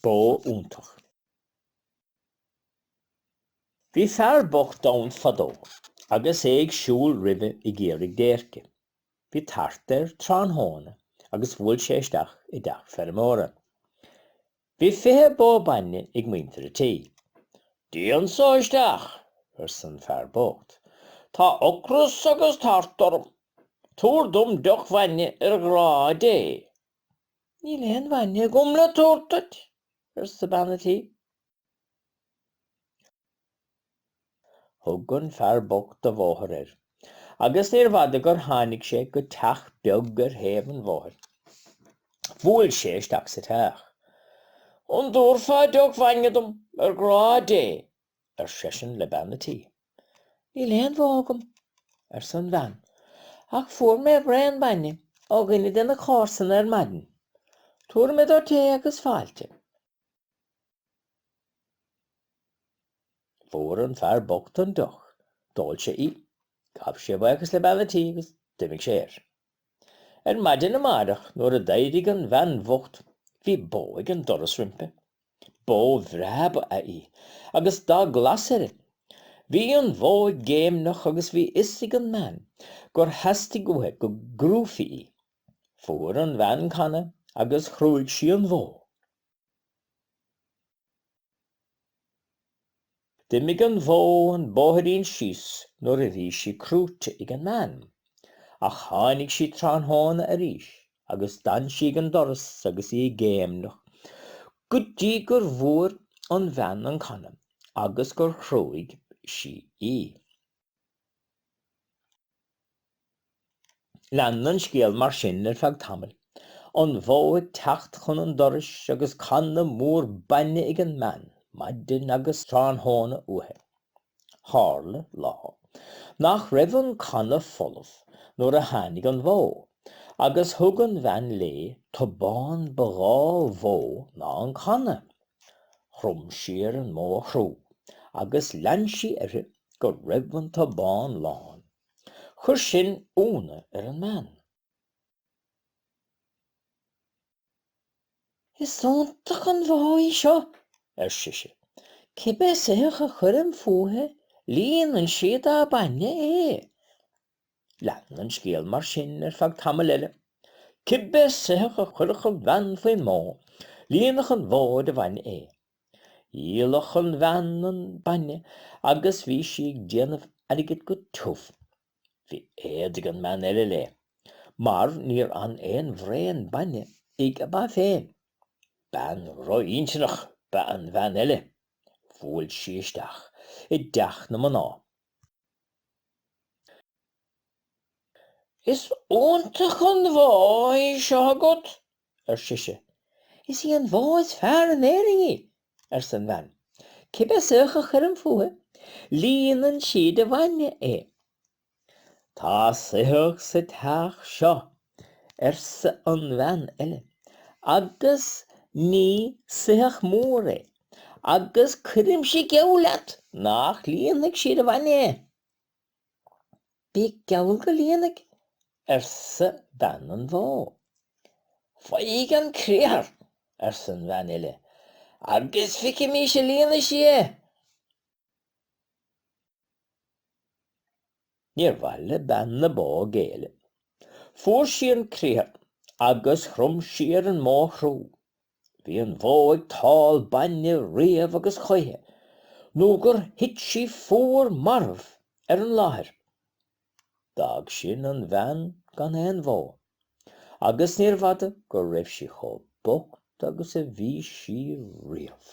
bó iontach. Bhí fear bocht ann fadó agus é ag siúl roimhe ag iarraidh déirce. Bhí tart air tráthnóna agus bhuail sé isteach i dteach feirmeora. Bhí fiche bó bainne ag muintir a tí. Dia anseo isteach, arsa an fear bocht. Tá ocras agus tart orm. Tabhair dom deoch bhainne ar ghrá Dé, Níl aon bhainne agam le tabhairt duit, arsa bean a' tí. Thug an fear bocht a bhóthar air, agus níor bhfada gur tháinig sé go teach beag ar thaobh an bhóthair. Bhuail sé isteach sa teach. An dtabharfá deoch bhainne dom, ar ghrá Dé? ar seisean le bean a' tí. Níl aon bhó agam, arsa an bhean, ach fuair mé braon bainne ó dhuine de na comharsana ar maidin. Tabharfaidh mé duit é agus fáilte. Fuair an fear bocht an deoch, d'ól sé í, ghabh sé buíochas le bean a' tí agus d'imigh sé air. Ar maidin amáireach nuair a d'éirigh an bhean bhocht bhí bó ag an doras roimpi. Bó bhreá ba ea í agus dath glas uirthi. Bhí an bhó ag géimneach agus bhí fhios ag an mbean gur theastaigh uaithe go gcrúfaí í. Fuair an bhean canna agus chrúigh sí an bhó. D'imigh an bhó an bóithrín síos nuair a bhí sí crúite ag an mbean, ach tháinig sí tráthnóna arís agus d'fhan sí ag an doras agus í ag géimneach go dtí go bhfuair an bhean an canna agus gur chrúigh sí í. Lean an scéal mar sin ar feadh tamaill, an bhó ag teacht chun an dorais agus canna mór bainne ag an mbean, maidin agus tráthnóna uaithi. Tharla, lá, nach raibh an canna folamh nuair a tháinig an bhó, agus thug an bhean léi tobán ba dhá mhó ná an canna. Chrom sí ar an mbó a chrú agus lean sí uirthi go raibh an tobán lán. Chuir sin ionadh ar an mbean. Is iontach an bhó í seo, arsa sise. Cibé soitheach a chuirim fúithi líonann sí dá bainne é. Lean an scéal mar sin ar feadh tamaill eile. Cibé soitheach a chuirfeadh an bhean faoin mbó, líonfadh an bhó de bhainne é. Dhíolfadh an bhean an bainne agus bhí sí ag déanamh airgid go tiubh. Bhí éad ag an mbean eile léi, mar níor fhan aon bhraon bainne ag a ba féin. Bean drochintinneach ba ea an bhean eile. Bhuail sí isteach i dteach na mná Is iontach an bhó í seo agat, ar sise. Is í an bhó is fearr in Éirinn í, arsa an bhean. Cibé soitheach a chuirim fúithi, líonann sí de bhainne é. Tá soitheach sa teach seo, arsa an bhean eile, agus ní soitheach mór é, agus cuirimse geall leat nach líonfaidh sí de bhainne é. Bíodh geall go líonfaidh, arsa bean an bhó. Faigh an criathar, arsa an bhean eile, agus feicimís an líonfaidh sí é. Níor mhaith le bean na bó géilleadh. Fuair sí an criathar agus chrom sí ar an mbó a chrú. Bhí an bhó ag tál bainne riamh agus choíche nó gur thit sí fuar marbh ar an láthair. D'fhág sin an bhean gan aon bhó, agus níorbh fhada go raibh sí chomh bocht agus a bhí sí riamh.